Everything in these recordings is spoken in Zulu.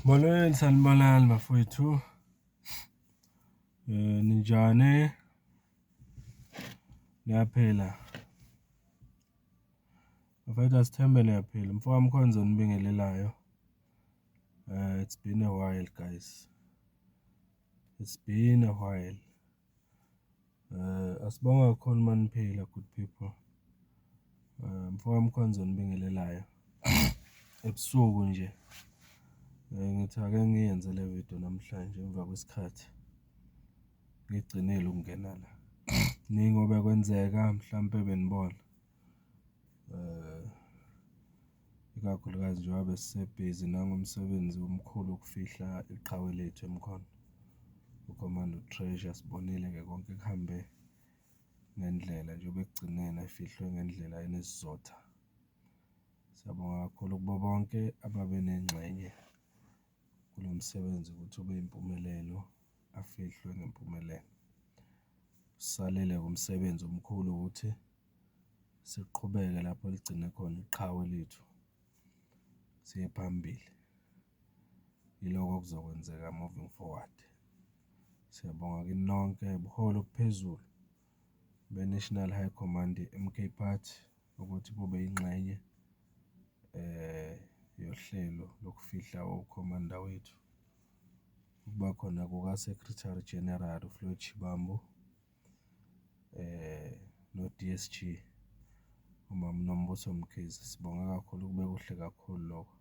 Molweni sanibonani bafowethu. Eh ninjani? Niyaphila. Bafowethu asithembe niyaphila. Mfowami khona zonibingelelayo. Uh, it's been a while, guys. It's been a while. Asibonge kakhulu uma niphila good people. MfokaMkhonza onibingelelayo ebusuku nje, ngithi ake ngiyenze le video namhlanje emva kwesikhathi ngigcinile ukungena la. Kuningi obekwenzeka mhlampe benibona. Ikakhulukazi njengoba besisebhizi nangomsebenzi omkhulu wokufihla iqhawe lethu eMkhondo. UCommando Treasure sibonile-ke konke kuhambe ngendlela njengoba ekugcineni efihlwe ngendlela enesizotha. Siyabonga kakhulu kubo bonke ababe nengxenye kulo msebenzi ukuthi ube impumelelo, afihlwe ngempumelelo. Usalele-ke umsebenzi omkhulu ukuthi. siqhubeke lapho eligcine khona iqhawe lethu, siye phambili. Yilokho okuzokwenzeka moving forward. Siyabonga kini nonke buholi obuphezulu be-National High Command ye-M_K Party ukuthi bube yingxenye yohlelo lokufihla ukhomanda wethu, ukuba khona kuka-Secretary General uFloyd Shivambu. no-D_S_G uMama uNombuso Mkhize. Sibonga kakhulu kube kuhle kakhulu lokho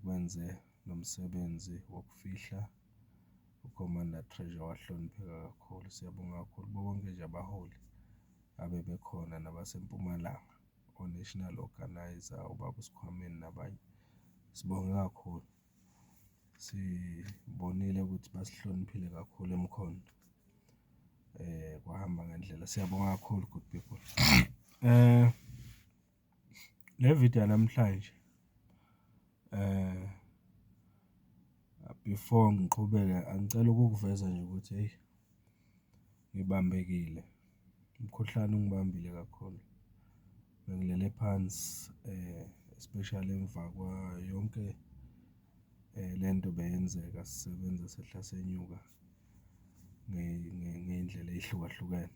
kwenze nomsebenzi wokufihla uKhomanda Treasure wahlonipheka kakhulu. Siyabonga kakhulu kubo bonke nje abaholi abebekhona nabaseMpumalanga o-national organiser, ubaba uSkhwameni nabanye. Sibonge kakhulu. sibonile ukuthi basihloniphile kakhulu emkhonto kwahamba ngendlela. Siyabonga kakhulu good people. Le video yanamhlanje before ngiqhubeke angicela ukukuveza nje ukuthi eyi ngibambekile. Umkhuhlane ungibambile kakhulu, bengilele phansi especially emva kwayo yonke le nto beyenzeka sisebenza sehla senyuka ngey'ndlela ey'hlukahlukene.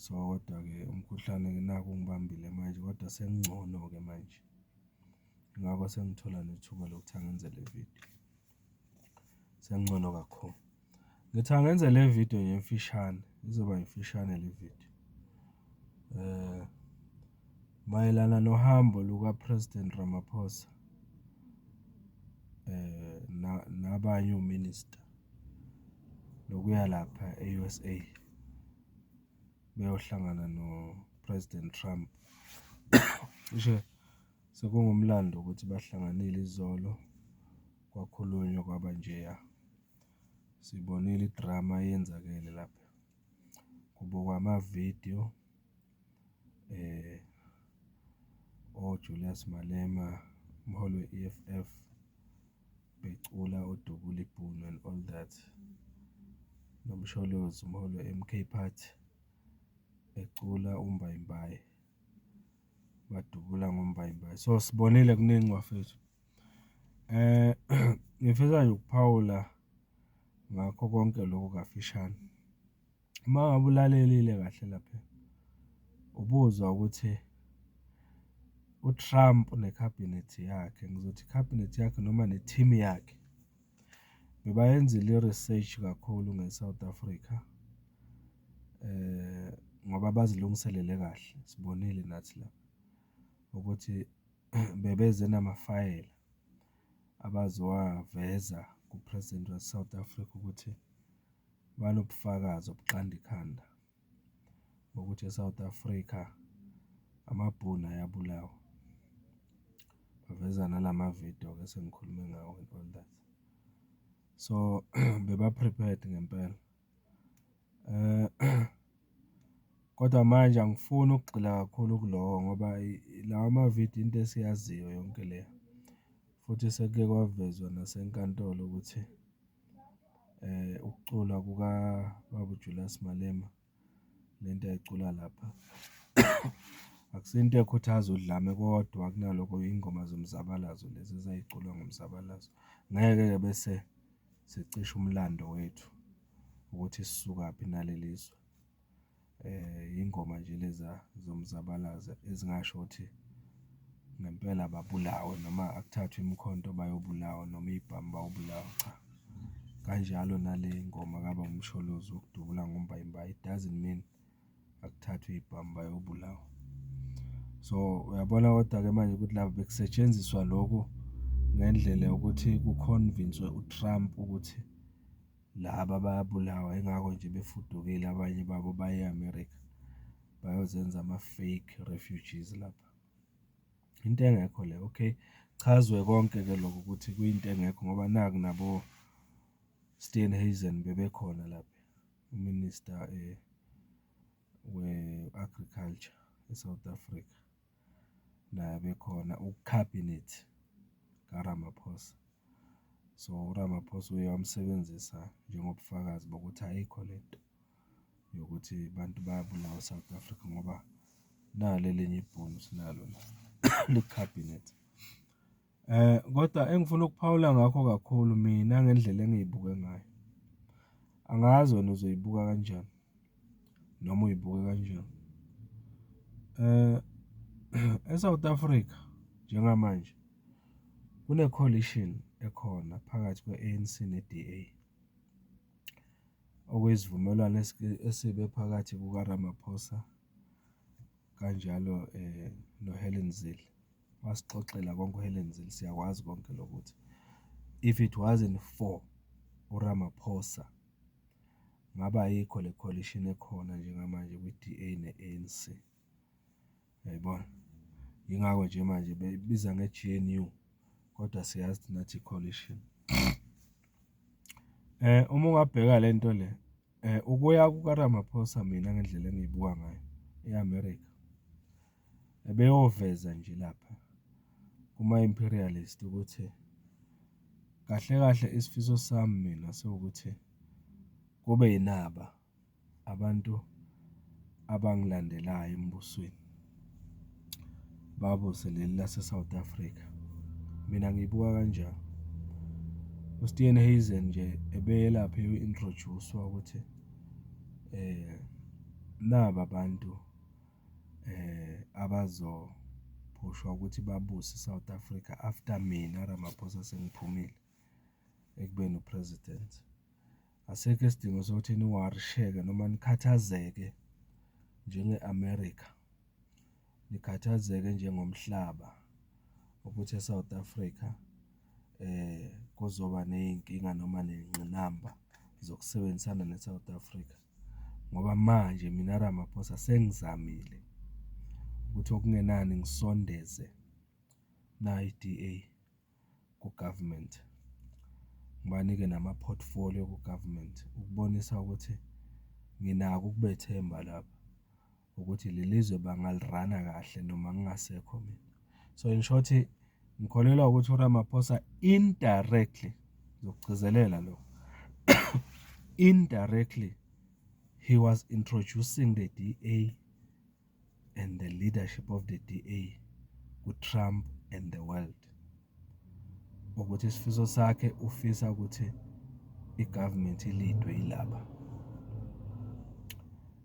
So, kodwa-ke umkhuhlane naku ungibambile manje kodwa sengingcono-ke manje, yingakho sengithola nethuba lokuthi angenze le vidiyo. sengcono kakhulu. Ngithi angenze le video nje emfishane, izoba imfishane le video. Eh mayelana nohambo luka President Ramaphosa eh nabanye ominister lokuya lapha e-USA beyohlangana no President Trump. Cishe Sekungumlando ukuthi bahlanganile izolo kwakhulunywa kwaba njeya. Sibonile idrama eyenzakele lapha. Kubukwa amavidiyo oJulius Malema, umholi we-E_F_F becula uDubula ibhunu and all that. NoMsholozi umholi we-M_K party ecula umbayimbayi. badubula ngombayimbayi. So sibonile kuningi bafethu. Eh ngifisa nje ukuphawula ngakho konke lokhu kafishane. Uma ngabe ulalelile kahle lapha ubuzwa ukuthi uTrump nekhabhinethi yakhe, ngizothi ikhabhinethi yakhe noma ne-team yakhe. Ngibayenzile i-research kakhulu nge-South Africa ngoba bazilungiselele kahle, sibonile nathi la ukuthi bebeze namafayela abazowaveza ku-president wase-South Africa ukuthi banobufakazi obuqand' ikhanda. ngokuthi eSouth Africa amaBhunu ayabulawa, baveza nala ma-video-ke esengikhulume ngawo and all that. So, beba-prepared ngempela kodwa manje angifuni ukugxila kakhulu kulowo ngoba lawa ma-video into esiyaziyo yonke le futhi sekuke kwavezwa nasenkantolo ukuthi. Ukucula kukababa uJulias Malema, le nto ayicula lapha akusiyo into ekhuthaza udlame kodwa kunalokho yingoma zomzabalazo lezi ezay'culwa ngomzabalazo. Ngeke-ke bese sicisha umlando wethu ukuthi sisukaphi naleli zwe. Ingoma nje leza zomzabalazo ezingasho ukuthi ngempela babulawe noma akuthathwe imikhonto bayobulawa noma iy'bhamu bayobulawa, cha. Kanjalo nale ngoma kaBaba Msholozi wokudubula ngombayimbayi it doesn't mean akuthathwe iy'bhamu bayobulawa. So, uyabona kodwa-ke manje ukuthi la bekusetshenziswa loku ngendlela yokuthi kukhonvinswe uTrump ukuthi Laba bayabulawa ingakho nje befudukile abanye babo baye eAmerica bayozenza ama fake refugees lapha. Into engekho le okay. Chazwe konke ke lokho ukuthi kuyinto engekho ngoba naku nabo Steenhuisen bebekhona lapha uMinister we Agriculture eSouth Africa. naye bekhona uKhabhinet kaRamaphosa. So, uRamaphosa uye wamsebenzisa njengobufakazi bokuthi ayikho le nto yokuthi abantu bayabulawa e-South Africa ngoba nali elinye ibhunu esinalo la likwiKhabhinethi. Kodwa engifuna ukuphawula ngakho kakhulu mina ngendlela engiyibuke ngayo, angazi wena uzoyibuka kanjani noma uyibuke kanjani. E-South Africa njengamanje kune-coalition ekhona phakathi kwe-A_N_C ne-D_A, okuyisivumelwano esibe phakathi kuka-Ramaphosa. kanjalo noHelen Zille wasixoxela konke uHelen Zille siyakwazi konke lokho ukuthi if it wasn't for uRamaphosa ngabe ayikho le coalition ekhona njengamanje kwi-D_A ne-A_N_C, yayibona? Yingakho nje manje beyibiza nge-G_N_U kodwa siyazi thina ukuthi i-coalition. Uma ungabheka le nto le. Ukuya kukaRamaphosa mina ngendlela engiyibuka ngayo e-America, ebeyoveza nje lapha kuma-imperialist ukuthi kahle kahle isifiso sami mina siwukuthi kube inaba abantu abangilandelayo embusweni. Babuse leli laseSouth Africa, mina ngiyibuka kanjani. USteenhuisen nje ebelapho u-introjusa ukuthi naba abantu abazophushwa ukuthi babuse iSouth Africa after mina Ramaphosa sengiphumile. ekubeni uPresident. Asekho isidingo sokuthi niwarisheke noma nikhathazeke njenge-America, nikhathazeke njengomhlaba ukuthi eSouth Africa kuzoba ney'nkinga noma ney'ngqinamba zokusebenzisana neSouth Africa ngoba manje mina Ramaphosa sengizamile ukuthi okungenani ngisondeze nayi i-D_A. ku-government, ngibanike nama-portfolio ku-government ukubonisa ukuthi nginako ukubethemba lapha ukuthi leli zwe bangali-run-a kahle noma ngingasekho mina. So, in short ngikholelwa ukuthi uRamaphosa indirectly, ngizokugcizelela lokho indirectly he was introducing the DA. and the leadership of the DA kuTrump and the world ukuthi isifiso sakhe ufisa ukuthi i-government ilidwe yilaba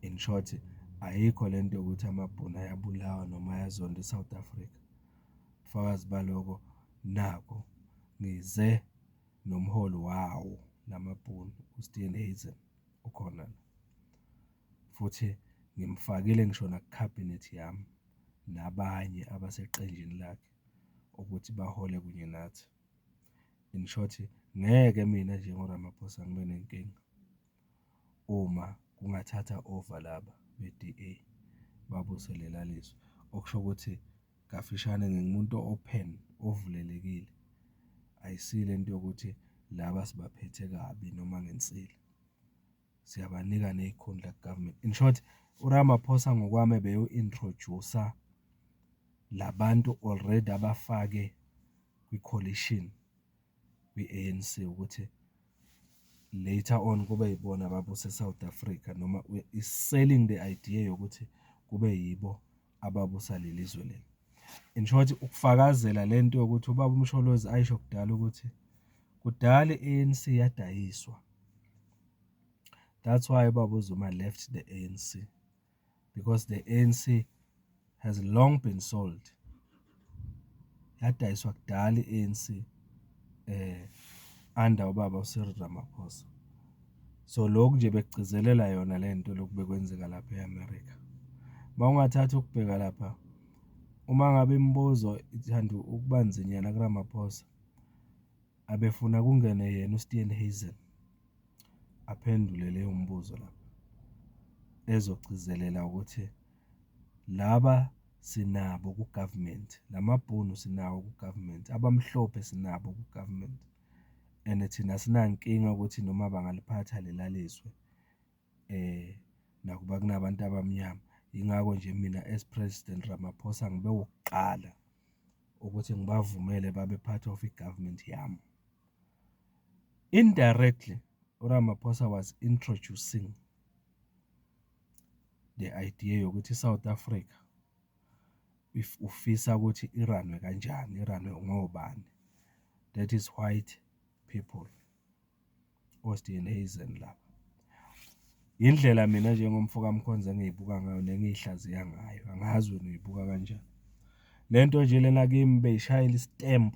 in short ayikho le nto yokuthi amabhunu ayabulawa noma ayazonda i-south africa fakazi baloko nako ngize nomholi wawo namabhunu uSteven Hazen ukhona la futhi ngimfakile ngisho nakukhabhinethi yami nabanye abaseqenjini lakhe ukuthi bahole kunye nathi. In short, ngeke mina njengoRamaphosa ngibe nenkinga uma kungathatha over laba be-DA babuyisele lelaa lizwe. Okusho ukuthi kafishane ngingumuntu o-open, ovulelekile, ayisiyo le nto yokuthi laba sibaphethe kabi noma ngensila. Siyabanika ney'khundla government. In short, uRamaphosa ngokwami ebeyo-introduce-a la bantu already abafake kwi-coalition kwi-A_N_C ukuthi later on kube yibona ababuse e-South Africa noma is selling the idea yokuthi kube yibo. ababusa leli zwe leli. In short ukufakazela le nto yokuthi ubaba uMsholozi ayisho kudala ukuthi kudala i-ANC yadayiswa. That's why ubaba uZuma left the ANC because the ANC has long been sold. yadayiswa kudala i-A_N_C under ubaba uCyril Ramaphosa. So, lokhu nje bekugcizelela yona le nto lokhu bekwenzeka lapha e-America. Uma ungathatha ukubheka lapha, uma ngabe imibuzo ithanda ukuba nzinyana kuRamaphosa, abefuna kungene yena uSteenhuisen aphendule leyo mibuzo lapha, ezogcizelela ukuthi. laba sinabo ku-government, la mabhunu sinawo ku-government, abamhlophe sinabo ku-government and thina asinankinga ukuthi noma bangaliphatha lela lizwe nakuba kunabantu abamnyama. Yingakho nje mina as President Ramaphosa ngibe wokuqala ukuthi ngibavumele babe part of i-government yami. Indirectly uRamaphosa was introducing. le idea yokuthi iSouth Africa if ufisa ukuthi i-run-we kanjani, i-run-we ngobani. That is white people, oSteenhuisen laba. Indlela mina njengomfokaMkhonza engiyibuka ngayo nengiyihlaziya ngayo, angazi wena uyibuka kanjani. Le nto nje lena kimi beyishayela i-stamp,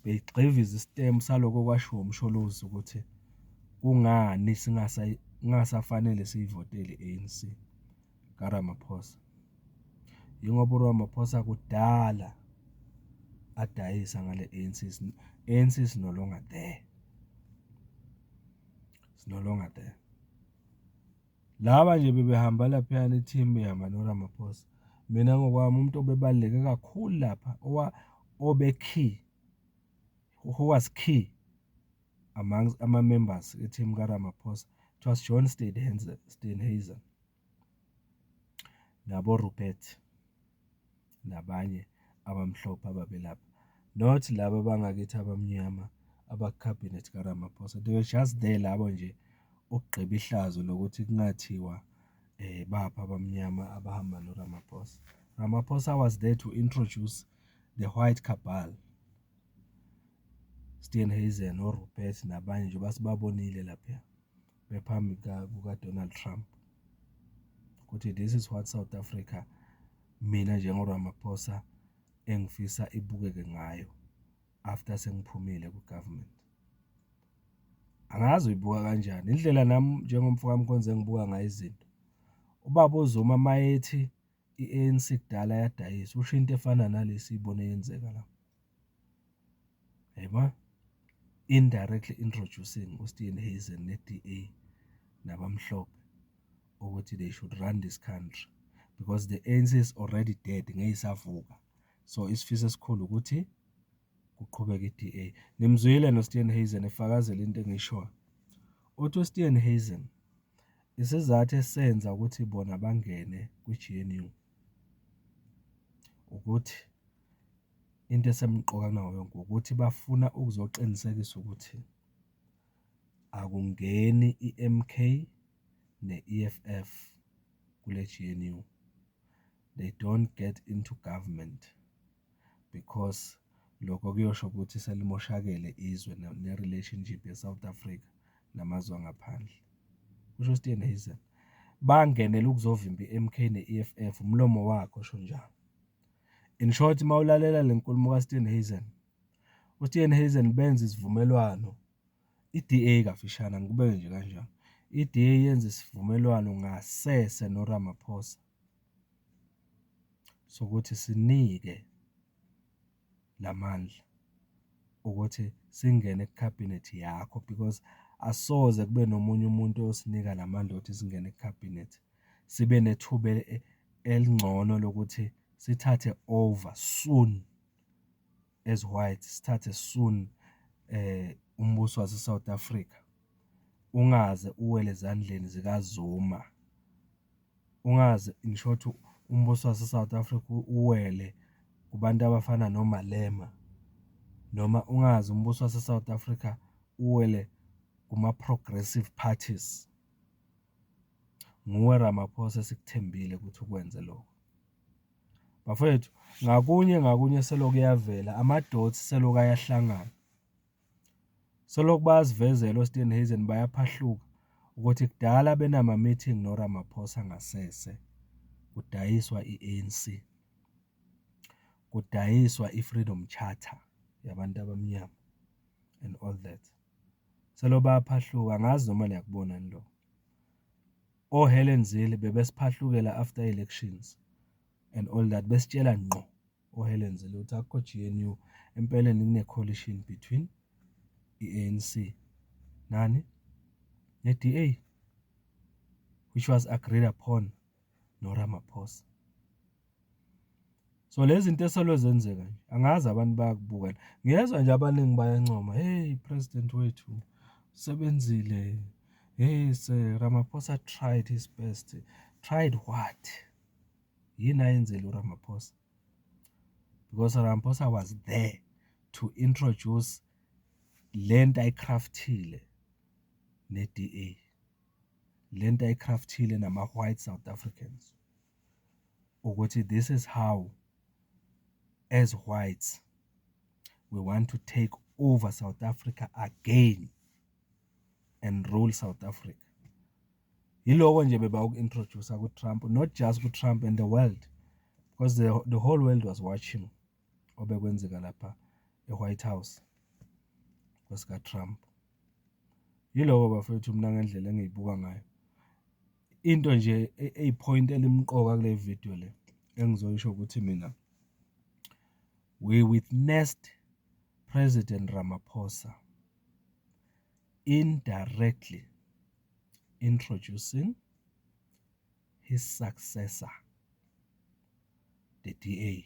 beyigxiviza i-stamp salokho okwashiwo uMsholozi ukuthi kungani kungasafanele siyivotele i-A_N_C kaRamaphosa. Yingoba uRamaphosa kudala adayisa ngale A_N_C, A_N_C is no longer there, is no longer there. Laba nje bebehamba laphayana ithimu ihamba noRamaphosa. Mina ngokwami umuntu obebaluleke kakhulu lapha owa obe key who was key among ama-members ethimu kaRamaphosa it was John Steenhuisen naboRupert. nabanye abamhlophe ababelapha not laba bangakithi abamnyama abakukhabhinethi kaRamaphosa. They were just there labo nje ukugqiba ihlazo lokuthi kungathiwa baphi abamnyama abahamba noRamaphosa. Ramaphosa was there to introduce the white cabal. Steenhuisen, oRupert nabanye nje basibabonile lapha. bephambi kukaDonald Trump ukuthi this is what South Africa mina njengoRamaphosa engifisa ibukeke ngayo after sengiphumile ku-government. Angazi uyibuka kanjani indlela nami njengomfowamkhonzi engibuka ngayo izinto. Ubaba uZuma mayethi i-ANC kudala yadayisa usho into efana nalesi ibone yenzeka la yebo indirectly introducing uSteven Hazen ne-DA nabamhlophe ukuthi they should run this country because the ANC is already dead ngeyisavuka so isifiso esikhulu ukuthi kuqhubeke i-DA nimzwile noSteven Hazen efakazela into engishoyo uthi uSteven Hazen Isizathu esenza ukuthi bona bangene kwi-G_N_U ukuthi into esemqoka kunawo yonke ukuthi bafuna ukuzoqinisekisa ukuthi akungeni i-M_K ne-E_F_F kule-G_N_U, they don't get into government. because lokho kuyosho ukuthi selimoshakele izwe ne-relationship ye-South Africa namazwe angaphandle. Kusho uSteve Naison, bangenela ukuzovimba i-MK ne-EFF, umlomo wakhe osho njalo. In short, uma ulalela le nkulumo kaSteve Naison, uSteve Naison benza isivumelwano, i-DA kafishane angikubeke nje kanjalo, i-DA yenza isivumelwano ngasese noRamaphosa. sokuthi sinike la mandla ukuthi singene kukhabhinethi yakho because asoze kube nomunye umuntu oyosinika la mandla okuthi singene kukhabhinethi, sibe nethuba elingcono lokuthi sithathe over soon as whites sithathe soon eh umbuso wase South Africa ungaze uwele ezandleni zikaZuma ungaze in short umbuso wase South Africa uwele kubantu abafana noMalema noma ungaze umbuso wase South Africa uwele kuma progressive parties nguwe Ramaphosa esikuthembile ukuthi ukwenze lokho. Bafwethu ngakunye ngakunye selokhu eyavela ama-dots selokhu ayahlangana. Selokhu bayazivezela oSteenhuisen bayaphahluka ukuthi kudala benama-meeting noRamaphosa ngasese kudayiswa i-ANC, kudayiswa i-Freedom Charter yabantu abamnyama and all that. Selokhu bayaphahluka angazi noma niyakubona yini lokho. O Helen Zille bebesiphahlukela after elections and all that besitshela ngqo o Helen Zille ukuthi akukho GNU empeleni kune coalition between i-ANC nani ne-DA which was agreed upon no Ramaphosa. So lezi zinto eselwe zenzeka nje angazi abantu bayakubukela. Ngiyezwa nje abaningi bayancoma, "Hey president wethu usebenzile. Hey se Ramaphosa tried his best." Tried what? Yini ayenzile uRamaphosa? Because Ramaphosa was there to introduce lento ayicraftile ne-DA. Lento ayicraftile nama-white South Africans. ukuthi this is how as whites we want to take over South Africa again and rule South Africa yiloko nje beba uku-introduce ku-Trump not just ku-Trump and the world because the, the whole world was watching obekwenzeka lapha e-White House kwesika-Trump Yiloko bafwethu mina ngendlela engiyibuka ngayo. Into nje eyiphoyinti elimqoka kule vidiyo le engizoyisho ukuthi mina, we witnessed President Ramaphosa indirectly introducing his successor, the DA.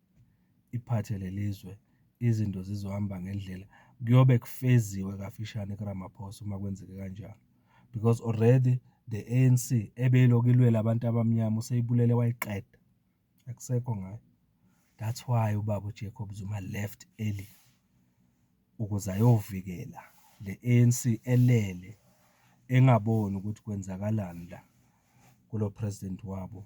iphathe leli zwe, izinto zizohamba ngendlela, kuyobe kufeziwe kafishane kuRamaphosa uma kwenzeke kanjalo. Because already the ANC ebeyilokhu ilwela abantu abamnyama useyibulele wayiqeda. Akusekho ngayo. That's why ubaba uJacob Zuma left early ukuze ayovikela le ANC elele engaboni ukuthi kwenzakalani la kulo president wabo.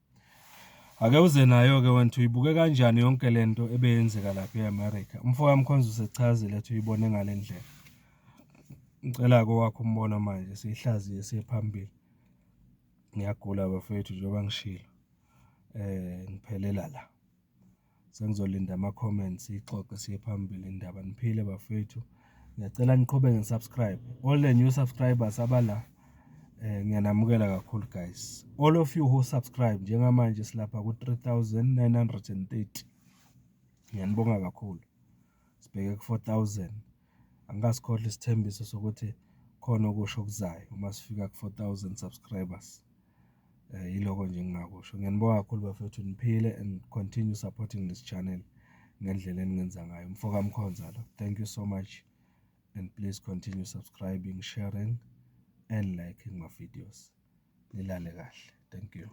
Ake uze nayo-ke wena ukuthi uyibuke kanjani yonke le nto ebeyenzeka lapha e-America. Umfo kaMkhonza usechazile ukuthi uyibone ngale ndlela. Ngicela-ke owakho umbono manje siyihlaziye siye phambili. Ngiyagula bafethu njengoba ngishilo, ngiphelela la. sengizolinda ama-comments siyixoxe siye phambili indaba. Niphile bafethu, ngiyacela niqhubeke ni-subscribe all the new subscribers abala eh, ngiyanamukela kakhulu guys all of you who subscribe njengamanje silapha ku-3930 ngiyanibonga kakhulu sibheke ku-four thousand. Angikasikhohlwa isithembiso sokuthi khona okusho okuzayo uma sifika ku-four thousand subscribers. Yiloko nje engingakusho. Ngiyanibonga kakhulu bafethu niphile and continue supporting this channel ngendlela eningenza ngayo. Umfoka Mkhonza lo. Thank you so much and please continue subscribing, sharing and liking my videos. Nilale kahle. Thank you.